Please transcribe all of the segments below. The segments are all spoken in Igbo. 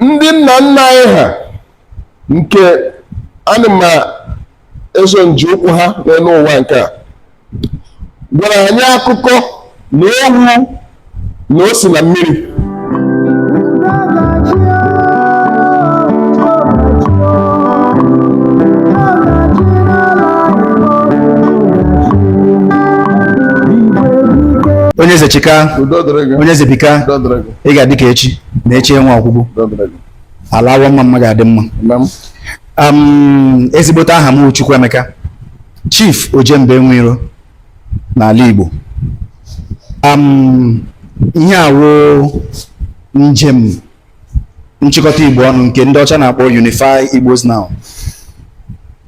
ndị nna nna anyị ha nke ana m eso nji ụkwụ ha n'elu ụwa nke a gwara anyị akụkọ na owu na o si na mmiri onye eze chika udo dịrị gị onye eze bika udo dịrị gị ị ga-adị ka echi na echi enwe ọgwụgwụ ala Awo Ọmamma ga-adị mma ezigbote aha m Chukwuemeka Chief Ojemba Enwe Iro n'ala Igbo ihe a wụ njem nchịkọta Igbo ọnụ nke ndị ọcha na-akpọ Unify Igbos Now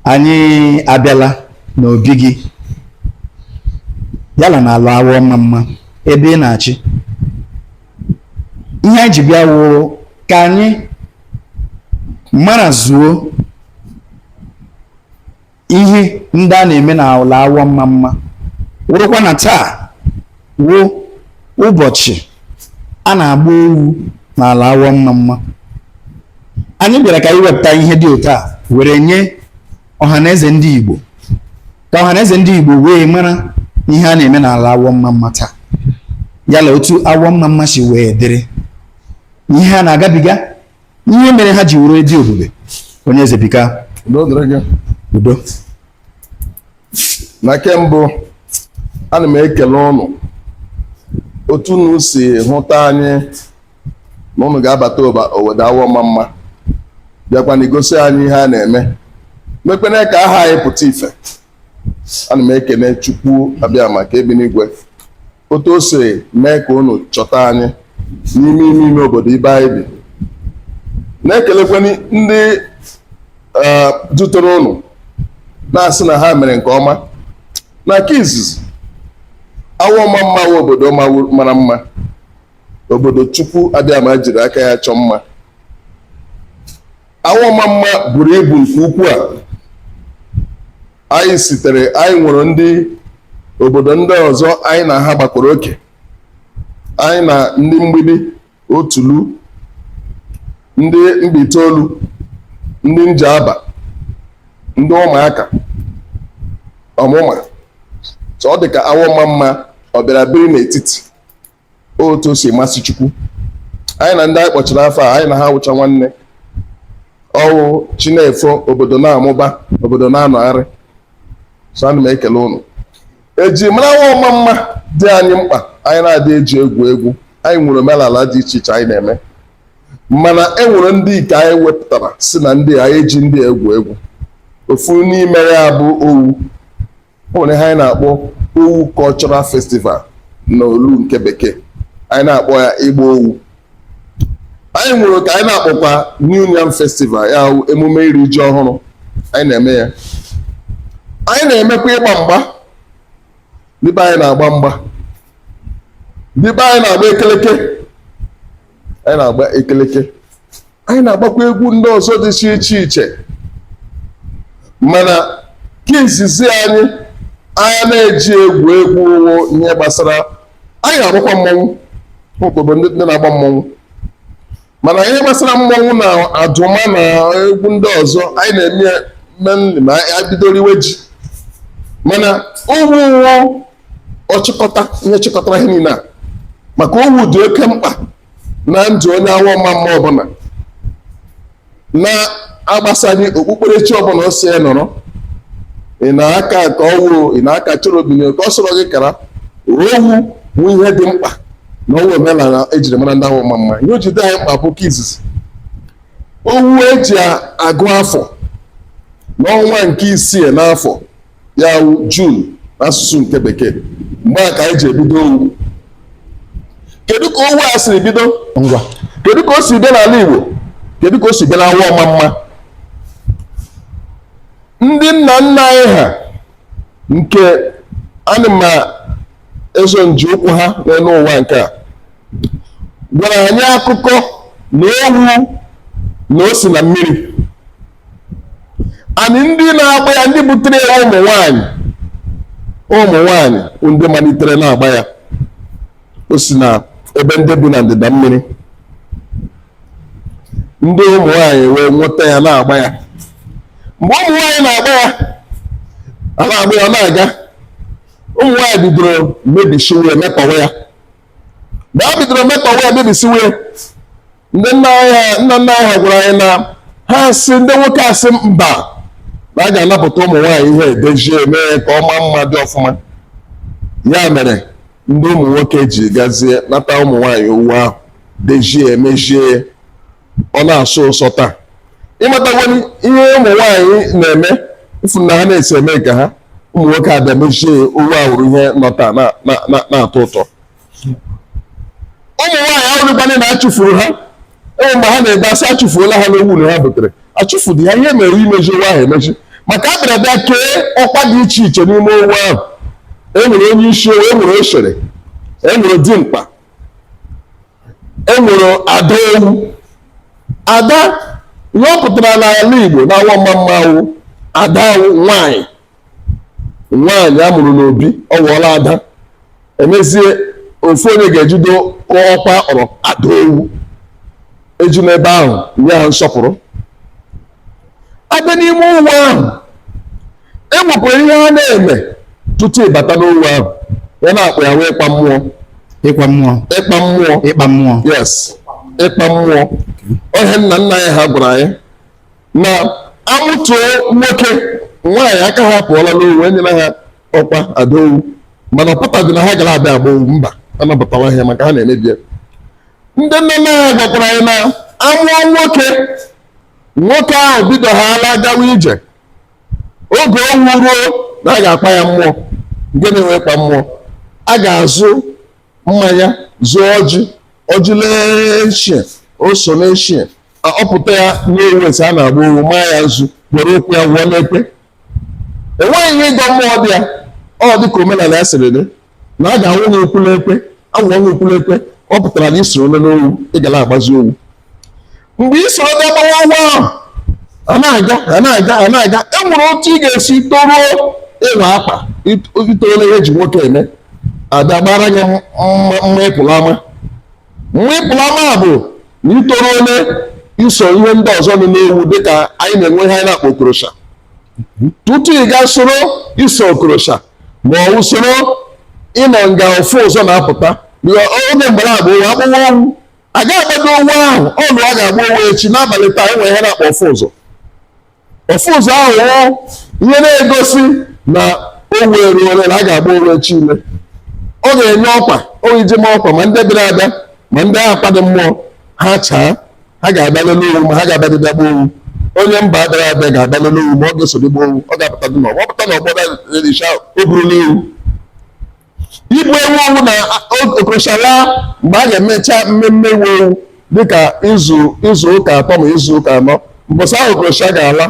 anyị abịala n'obi gị yala na ala Awo Ọmamma ebe ị na-achị ihe anyị ji bịa wụ ka anyị mara zuo ihe ndị a na-eme na ala Awo Ọmamma wụrụkwa na taa wụ ụbọchị a na-agba owu n'ala Awo Ọmamma anyị bịara ka anyị wepụta ihe dị otu a were nye ọhaneze ndị Igbo ka ọhaneze ndị Igbo wee mara ihe a na-eme n'ala Awo Ọmamma taa yala otu Awo Ọmamma si wee dịrị ihe ha na-agabiga ihe mere ha ji were dị ebube onye eze bika udo na nke mbụ ana m ekele ụnụ otu unu si hụta anyị na ụnụ ga-abata obodo Awo Ọmamma bịakwana igosi anyị ihe a na-eme mekwene ka aha anyị pụta ife ana m ekene Chukwu Abịama nke bi n'igwe otu o si mee ka ụnụ chọta anyị n'ime ime ime obodo ebe anyị bi na-ekelekweni ndị eh, dutere ụnụ na-asị na ha mere nke ọma na nke izizi Awo Ọmamma wụ obodo ma- mara mma obodo Chukwu Abịama jiri aka ya chọọ mma Awo Ọmamma buru ibu nke ukwu a anyị sitere anyị nwere ndị obodo ndị ọzọ anyị na ha gbakọrọ oke anyị na ndị Mgbidi Otulu ndị Mbaitolu ndị Njaba ndị Ụmụaka Ọmụma so ọ dị ka Awo Ọmamma ọ bịara biri n'etiti otu o si masị Chukwu anyị na ndị anyị kpọchara afọ a anyị na ha wụcha nwanne ọ wụ chi na-efo obodo na-amụba obodo na-anọgharị so ana m ekele ụnụ eji mara Awọ Ọmamma dị anyị mkpa anyị na-adị eji egwu egwu anyị nwere omenala dị iche iche anyị na-eme mana e nwere ndị nke anyị wepụtara sị na ndị anyị eji ndị egwu egwu ofu n'ime ha bụ owu o nwere ihe anyị na-akpọ owu cultural festival na olu nke bekee anyị na-akpọ ya ịgba owu anyị nwere nke anyị na-akpọkwa new yam festival ya wụ emume iri ji ọhụrụ anyị na-eme ya anyị na-emekwa ịgba mgba ndị be anyị na-agba mgba ndị be anyị na-agba ekeleke anyị na-agba ekeleke anyị na-agbakwa egwu ndị ọzọ dị iche iche mana nke izizi anyị anaghị eji egwu egwu wụ ihe gbasara anyị na-agbakwa mmọnwụ obodo ndị na-agba mmọnwụ mana ihe gbasara mmọnwụ na adụma na egwu ndị ọzọ anyị na-eme mainly ma anyị bidoro iwe ji mana owu ọchịkọta ihe chịkọtara ihe niile a maka owu dị oke mkpa na ndụ onye Awọ Ọmamma ọbụla na-agbasaghị okpukperechi ọbụla o si ya nọrọ ị na-aka ụka ọ wụ ị na-aka Cherubim ụka ọ sọrọ gị kara owu bụ ihe dị mkpa na ọ wụ omenala ejiri mara ndị Awọ Ọmamma ihe o ji dị anyị mkpa bụ nke izizi owu eji agụ afọ n'ọnwa nke isii n'afọ ya wụ June n'asụsụ nke bekee mgbe a ka anyị ji ebido owu kedu ka owu a siri bido ngwa kedu ka o si bịa n'ala Igbo kedu ka o si bịa n'Awọ Ọmamma ndị nna nna anyị ha nke anyị na-eso n'ije ụkwụ ha n'elu ụwa nke a gwara anyị akụkọ na owu na o si na mmiri and ndị na-agba ya ndị butere ya wụ ụmụ nwanyị ụmụ nwanyị wụ ndị malitere na-agba ya o si na ebe ndị bi na ndịda mmiri ndị ụmụ nwanyị wee nweta ya na-agba ya mgbe ụmụ nwanyị na-agba ya a na-agba ya ọ na-aga ụmụ nwanyị bidoro mebisiwe mekpọwa ya mgbe ha bidoro mekpọwa ya mebisiwe ndị nna anyị nna nna anyị ha gwara anyị na ha asị ndị nwoke asị mba na a ga-anapụta ụmụ nwaanyị ihe a dezie mee ya ka ọ maa mma dị ọfụma ya mere ndị ụmụ nwoke ji gazie nata ụmụ nwaanyị owu ahụ dezie ya mezie ya ọ na-asọ ụsọ taa ịmatakwani ihe ụmụ nwaanyị na-eme ụfụ na ha na-esi eme nke ha ụmụ nwoke abịa mezie ya owu awụrụ ihe nọ taa na- na- na- na-atọ ụtọ ụmụ nwaanyị awụdịkwana na achụfuru ha enwe mgbe ha na-ebe asị achụfuola ha n'owu na ha butere achụfudị ha ihe mere imezi owu ahụ emezi maka a bịara bịa kee ọkwa dị iche iche n'ime owu ahụ e nwere onye isi owu e nwere oshere e nwere dimkpa e nwere ada owu ada ihe ọ pụtara n'ala Igbo na Awo-Omamma wụ ada nwanyị nwaanyị a mụrụ n'obi ọ ghọọla ada emezie ofu onye ga-ejido ọkwa a kpọrọ ada owu eji n'ebe ahụ nye ha nsọpụrụ abịa n'ime owu ahụ e nwekwara ihe a na-eme tutu ịbata n'owu ahụ ihe a na-akpọ ya wụ ịkpa mmụọ ịkwa mmụọ ịkpa mmụọ ịkpa mmụọ yes ịkpa mmụọ ohe nna nna anyị ha gwara anyị na amụtuo nwoke nwaanyị aka ha pụọla n'owu enyela ha ọkwa ada owu mana ọ pụtaghị na ha ga na-abịa agba owu mba anabatawaghị ha maka ha na-emebi ya ndị nne nna ha gwakwara anyị na amụọ nwoke nwoke ahụ bido ha ala gawa ije oge owu ruo na a ga-akpa ya mmụọ nke na-enwe ịkpa mmụọ a ga-azụ mmanya zụọ ọjị ọjị lee eshie o so n'eshie ọ pụta ya n'owu esi a na-agba owu maa ya nzu were ụkwụ ya wụọ n'ekwe enweghị ihe ịgọ mmụọ dị ya ọ dị ka omenala ya siri dị na a ga-awụ gị ụkwụ n'ekwe awụọ gị ụkwụ n'ekwe ọ pụtara na isoro onye n'owu ị ga na-agbazi owu mgbe ị soro ga gbawa owu ahụ a na-aga a na-aga a na-aga e nwere otu ị ga-esi toruo ịwa akwa itoole ihe eji nwoke eme abịa gbara gị mma ịpụ n'ama mma ịpụ n'ama bụ na itoruole iso ihe ndị ọzọ nọ n'owu dịka anyị na-enwe ihe anyị na-akpọ okorosha tutu ị gaa soro iso okorosha ma ọ bụ soro ịnọ nga ofu ụzọ na-apụta oge mgbe a na-agba owu agbawa owu a ga-agbado owu ahụ ọnụ a ga-agba owu echi n'abalị taa enwe ihe a na-akpọ ofu ụzọ ofu ụzọ ahụ wụ ihe na-egosi na owu eruole na a ga-agba owu echi ime ọ ga-enye ọkwa iji ma ọkwa ma ndị bịara abịa ma ndị a ka-akpadị mmụọ ha nchaa ha ga-abịa lele owu ma ha ga-abịadị bịa gba owu onye mba abịara abịa ga-abịa lele owu ma ọ ga-esodị gba owu ọ ga-apụtadị n'ọgbọ ọ pụta n'ọgbọ na-ericha o gburula ewu Igbu ewu ọ wụ na okorosha laa mgbe a ga-emecha mmemme iwu owu dịka izu izu ụka atọ ma izu ụka anọ mbọsị ahụ okorosha ga-ala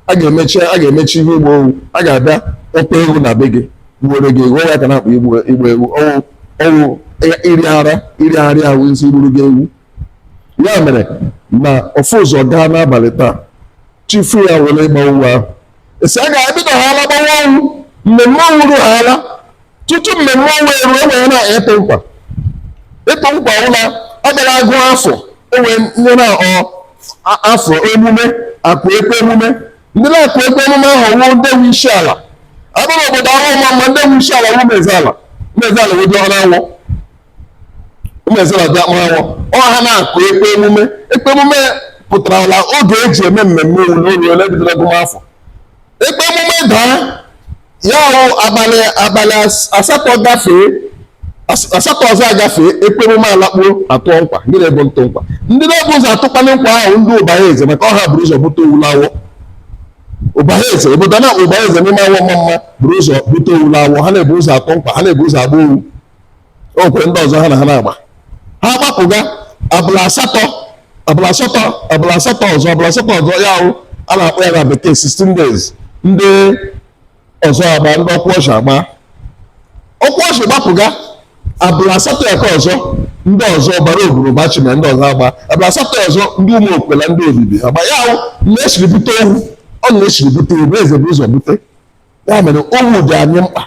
a ga-emechi a ga-emechi ihe ịgba owu a ga-abịa akpụ ewu na be gị gbuoro gị ewu ya ka a na-akpọ igbu ewu ọ wụ ọ wụ iri ara iri ara ahụ isi gburu gị ewu ya mere na ofu ụzọ gaa n'abalị taa chi fo ya wụrụ ịgba owu ahụ esi a ga-ebido ha ala gbawa owu mmemme owu ruo ha ala tutu mmemme owu eru e nwere na ịtụ nkwa ịtụ nkwa wụ la ọ gara agụ afọ e nwee ihe na ọ a- afọ emume akụ ekwe emume ndị na-akụ ekwe emume ahụ wụ ndị nwe isi ala a bịa l'obodo awọ ọmamma ndị nwe isi ala wụ ụmụezeala ụmụezeala wụ dị n'awọ ụmụezeala diọkpara n'awọ ọ ha na-akụ ekwe emume ekwe emume pụtara la oge eji eme mmemme owu eruole bidoro agụmafọ ekwe emume daa ya ahụ abalị abalị as- asatọ gafee as- asatọ ọzọ agafee ekwe emume alakpuo atụ nkwa ndị na-ebu ntụ nkwa ndị na-ebu ụzọ atụkwala nkwa wụ ndị ụbahaeze maka ọ ha buru ụzọ bute owu l'awọ ụbahaeze obodo a na-akpọ ụbahaeze n'ime awọ ọmamma buru ụzọ bute owu l'awọ ha na-ebu ụzọ atụ nkwa ha na-ebu ụzọ agba owu o nwere ndị ọzọ ha na ha na-agba ha gbapụga abalị asatọ abalị asatọ abalị asatọ ọzọ abalị asatọ ọzọ ya wụ a na-akpọ ya na bekee 16 days ndị ọzọ agba ndị okworji agba okworji gbapụga abalị asatọ ya ka ọzọ ndị ọzọ ụbọgwụ ụbachima ndị ọzọ agba abalị asatọ ya ọzọ ndị ụmụokwe na ndị obibi agba ya wụ na-esiri bute owu ọ na-esiri bute owu eze bu ụzọ bute ya mere owu dị anyị mkpa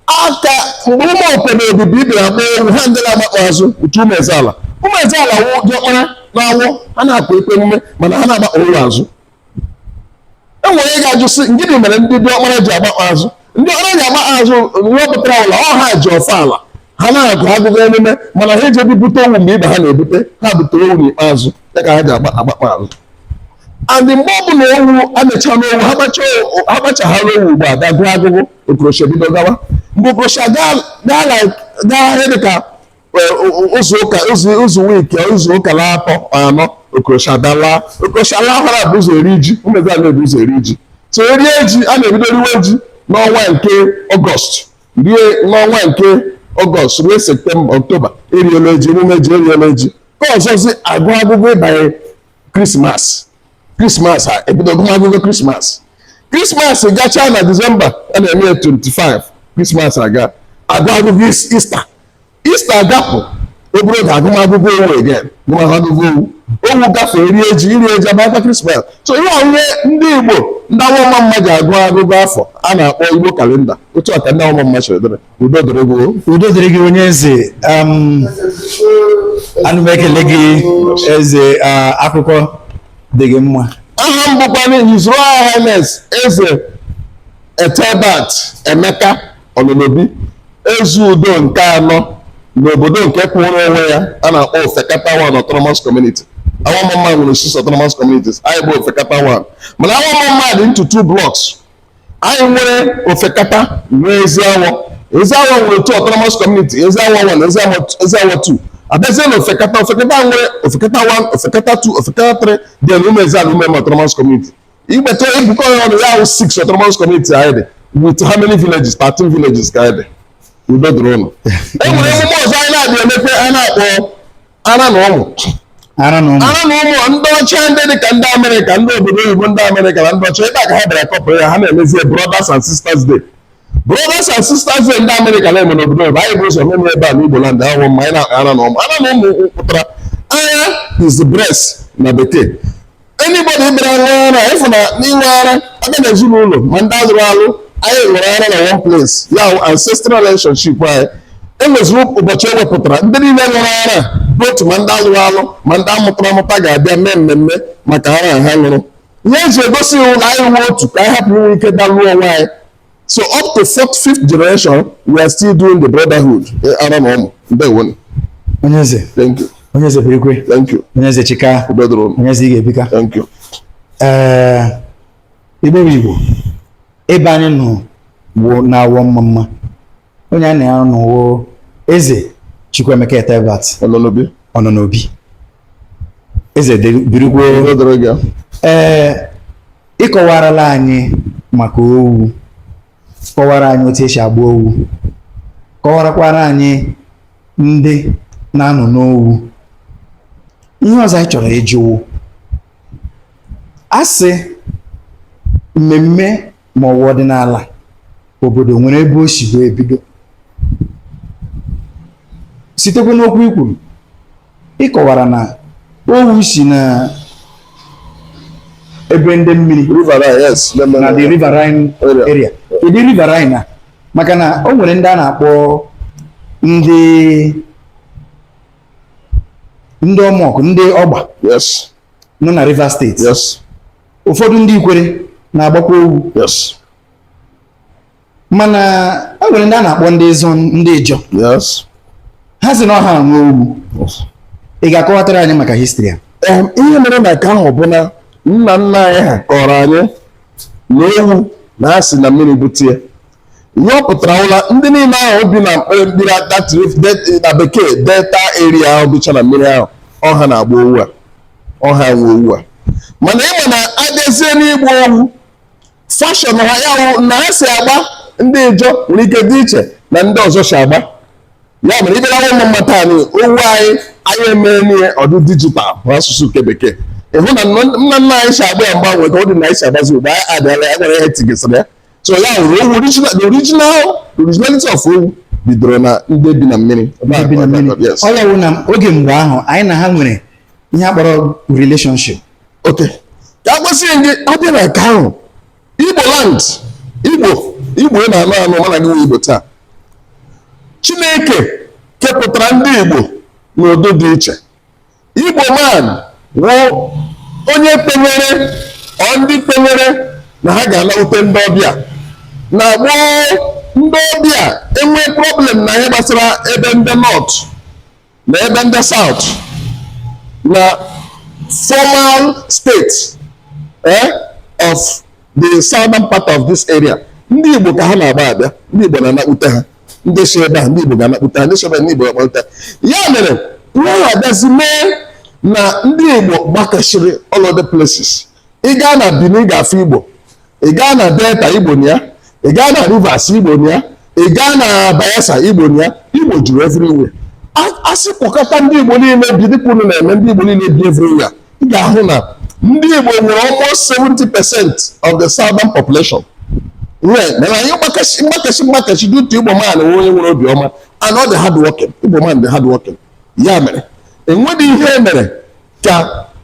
aka mgbe ụmụokwe na obibi bịara agba owu ha ndị na-agbakpa azụ wụ ụmụezeala ụmụezeala wụ diọkpara n'awọ ha na-akụ ekwe emume mana ha na-agbakpa owu azụ e nwere ike ga-ajụ sị gịnị mere ndị diọkpara ji agbakpa azụ ndị ọkpara ji agbakpa azụ ihe ọ pụtara wụ la ọ ha ji ọfọ ala ha na-agụ agụgụ emume mana ha ejebi bute owu mgbe ibe ha na-ebute ha bute owu n'ikpeazụ ya ka ha ji agbakpa azụ and mgbe ọ bụla owu amecha n'awọ ha gbachahara owu ugbu a a gụọ agụgụ okorosha bido gawa mgbe okorosha gaa dị ka izu wiki izu ụka na atọ anọ okorosha alaa okorosha lahara e bu ụzọ eri ji ụmụezeala na-ebu ụzọ eri ji so erie ji a na-ebido riwe ji n'ọnwa nke ọgọst rie n'ọnwa nke ọgọst rue septemba ọktoba eriela ji emume ji eriela ji ka ọzọzi agụwa agụgụ ịbanye krismas krismas a ebido agụmagụgụ krismas krismas gachaa na disemba a na-eme 25 krismas agaa agụwa agụgụ ista Ista gapụ obere oge agụmagụgụ owu again gụmagụgụ owu owu gafee rie ji iri ji abata krismas so ọ wụ ihe ndị igbo ndị awọ ọmamma ji agụ agụgụ afọ a na-akpọ igbo kalenda otu a ka ndị awọ ọmamma chọrọ dere udo dịrị gị udo dịrị gị onye eze um, ana m ekele gị eze uh, akụkọ dị gị mma aha m bụkwa His Royal Highness eze Ethelbert Emeka ononobi eze udo nke anọ n'obodo nke kwụrụ onwe ya a na-akpọ ofekata one autonomous community awọmamma nwere six autonomous communities anyị bụ ofekata one mana awọmamma dị into two blocks anyị nwere ofekata nwee eziawọ eziawọ nwere two autonomous community eziawọ one eziawọ two abịazie na ofekata ofekata nwere ofekata one ofekata two ofekata three dị na ụmụezeala ume autonomous community ị gbakọ e bukọ ya ọnụ ya awụ six autonomous community anyị dị with how many villages thirteen villages ka anyị dị udo dịrị ụnụ e nwere emume ọzọ anyị na-adị emepe a na-akpọ ara na ụmụ ara na ụmụ ndị ọcha ndị dị ka ndị amerịka ndị obodo oyibo ndị amerịka na ndị ọcha ebe a ka ha bịara kọpụrụ ya ha na-emezie brothers and sisters day brothers and sisters day ndị amerịka na-eme n'obodo oyibo anyị bu ụzọ meme ebe a n'igbo land awọmamma anyị na-akpọ ara na ụmụ ara na ụmụ pụtara ara is the breast na bekee anybody bịara ṅụọ ara ịfụ na n'inwe ara aka na ezinụlọ ma ndị alụrụ alụ anyị ṅụrụ ara na one place ya ancestral relationship anyị e nweziri ụbọchị e wepụtara ndị niile ṅụrụ ara bụ otu ma ndị alụrụ alụ ma ndị amụtara amụta ga-abịa mee mmemme maka ara ha ṅụrụ ihe e ji egosi wụ na anyị wụ otu ka anyị hapụ inwe ike dalụọ onwe anyị so up to fourth fifth generation we are still doing the brotherhood eh, ara na ụmụ ndewo onye eze thank you onye eze birikwe thank you onye eze chika onye eze ị ga-ebika thank you ee eh, igbo bụ igbo ebe anyị nọ bụ n'awọmamma onye anyị na ya nọ wụ eze Chukwuemeka Ethelbert Ononobi eze birikwe ee ị kọwarala anyị maka owu kọwara anyị otu e si agba owu kọwarakwara anyị ndị na-anọ n'owu ihe ọzọ anyị chọrọ ịjụ wụ a sị mmemme ma ọ wụ ọdịnala obodo nwere ebe o si wee bido sitekwa n'okwu i kwuru ị kọwara na owu si na ebe ndị mmiri riverine, yes. ndị nọ na the River. riverine Area. area kedu riverine a maka na o nwere ndị a na-akpọ ndị ndị ọmọkụ ndị ọgba Yes, nọ na rivers state yes. ụfọdụ ndị ikwere na-agbakwa owu mana e nwere ndị a na-akpọ ndị ịzọ ndị ịjọ ha sị na ọ ha nwe owu ị ga-akọwatara anyị maka histri a ihe mere na nke ahụ bụ na nna nna anyị ha kọọrọ anyị na owu na e si na mmiri bute ya ihe ọ pụtara wụ la ndị niile ahụ bi na mkpere mmiri na bekee delta area ahụ bicha na mmiri ahụ ọ ha na-agba owu a ọha nwe owu a mana ị ma na a bịazie n'ịgba owu fashion ha ya wụ na ha si agba ndị ijọ nwere ike dị iche na ndị ọzọ si agba ya mere ibere awa ụmụ mmata anyị owu anyị anyị emee n'ihe ọ dị digital bụ asụsụ nke bekee ịhụ na nna nna anyị si agba ya mgbanwe ka ọ dị na anyị si agbazi ugbu a anyị adịala ya nwere ihe tigesịrị ya so ya hụrụ owu original the original the originality of owu bidoro na ndị bi na mmiri Ndị bi na mmiri. Yes. ọ ya wụ na oge mgbe ahụ anyị na ha nwere ihe a kpọrọ relationship okay ka a gwasie gị a bịa na nke ahụ igbo land igbo igbo ị na-anụ anụ mana gị nwe igbo taa chineke kepụtara ndị igbo n'ụdị dị iche Igbo man wụ onye kwenyere ọ ndị kwenyere na ha ga-anawute ndị ọbịa na gboo ndị ọbịa enwee problem na ihe gbasara ebe ndị north na ebe ndị south na formal state eh, of the southern part of this area ndị Igbo ka ha na-agba abịa ndị Igbo na-anakpute ha ndị si ebe a ndị Igbo ga-anakpute ha ndị si ebe ndị Igbo ga-akpọta ya mere ihe ha abịazi mee na ndị Igbo gbakasịrị all other places ị gaa na Benin ị ga-afụ Igbo ị gaa na Delta Igbo nọ ya ị gaa na Rivers Igbo nọ ya ị gaa na Bayelsa Igbo nọ ya Igbo juru everywhere a sị kpọkọta ndị Igbo niile bi dịka unu na-eme ndị Igbo niile bi everywhere ị ga-ahụ na ndị Igbo nwere almost 70 percent of the southern population mana anyị mgbakasị mgbakasị mgbakasị dị otu Igbo man wụ onye nwere obiọma and ọ dị hard working Igbo man dị hard working ya mere enweghị ihe e mere ka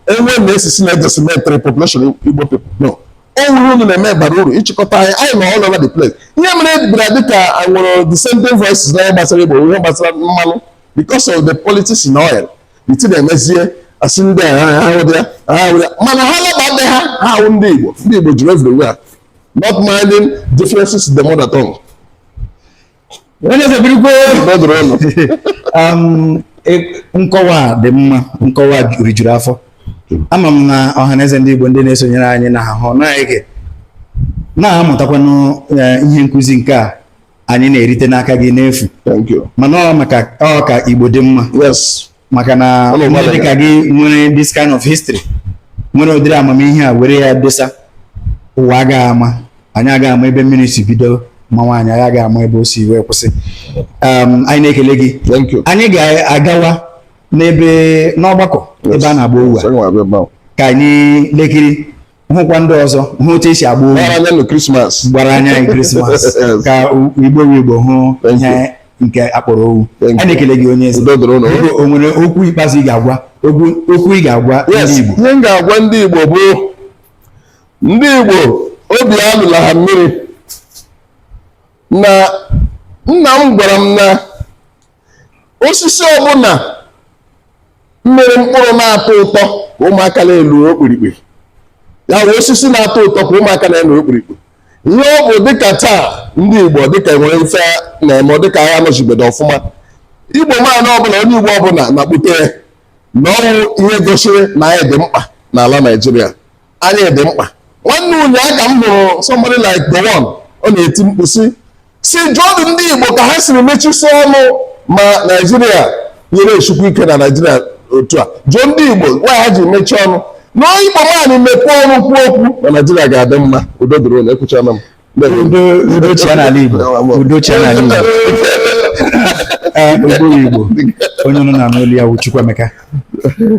e wee na-asị sị na e decimatere population igbo people no o nwere ihe unu na-eme bara uru ịchịkọta anyị anyị nọ all over the place ihe mere ọ bịara dịka e nwere dissenting voices n'ihe gbasara igbo ihe gbasara mmanụ because of the politics in oil iti na-emezie a sị ndị mana ha labadị ha ha ahụ ndị Igbo ndị Igbo juru everywhere not minding differences in the mother tongue Um, e, nkọwa dị mma nkọwa rijuru afọ ama m na ọhaneze ndị Igbo ndị na-esonyere anyị na-ahụ na-ege na-amụtakwanụ e, ihe nkụzi nke a anyị na-erite n'aka gị n'efu mana ọ maka ọ ka Igbo dị mma maka na ndị dịka gị nwere this kind of history nwere ụdịrị amamihe a were ya dosa ụwa agaghị ama anyị agaghị ama ebe mmiri si bido mawa anyị anyị agaghị ama ebe o si wee kwụsị um, anyị na-ekele gị anyị ga-agawa n'ebe n'ọgbakọ ebe a na-agba owu a ka anyị lekiri hụkwa ndị ọzọ hụ otu esi agba owu gbara anya anyị krismas ka igbo igbo hụ ihe nke akpọrọ owu a na-ekele gị onye eze o nwere okwu ikpeazụ ị ga-agwa okwu ị ga-agwa ndị igbo ihe m ga-agwa ndị igbo bụ ndị igbo obi alụla ha mmiri na nna m gwara m na osisi ọbụla mịrị mkpụrụ na-atọ ụtọ ka ụmụaka na-elu okpirikpi ya bụ osisi na-atọ ụtọ ka ụmụaka na-elu okpirikpi ihe ọ bụ dịka taa ndị Igbo ọ dịka nwere ife na-eme ọ dịka ha anọchibedo ọfụma Igbo man ọbụla onye Igbo ọbụla na-akpụte na ọ wụ ihe gosiri na anyị dị mkpa n'ala Naịjirịa anyị dị mkpa nwanne ụnyaahụ ka m hụrụ somebody like the one ọ na-eti mkpu sị sị jụọdụ ndị Igbo ka ha siri mechisi ọnụ ma Naijiria ihe esikwu ike na Naijiria otu a jụọ ndị Igbo why ha ji mechie ọnụ na Igbo ma anyị mepee ọnụ kwuo okwu na Naijiria ga-adị mma udo dịrị unu ekwuchana m udo chịa n'ala Igbo udo chịa n'ala Igbo Igbo bụ Igbo onye unu na-anụ olu ya wụ Chukwuemeka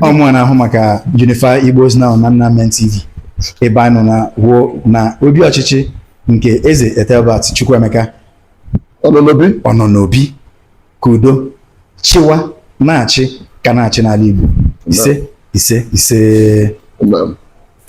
ọ mụwa na-ahụ maka Unify Igbos Now na Nnamen TV ebe anyị nọ now wụ na obi ọchịchị nke Eze Ethelbert Chukwuemeka ọnọ n'obi ka udo chịwa na-achị ka na-achị n'ala Igbo ise ise ise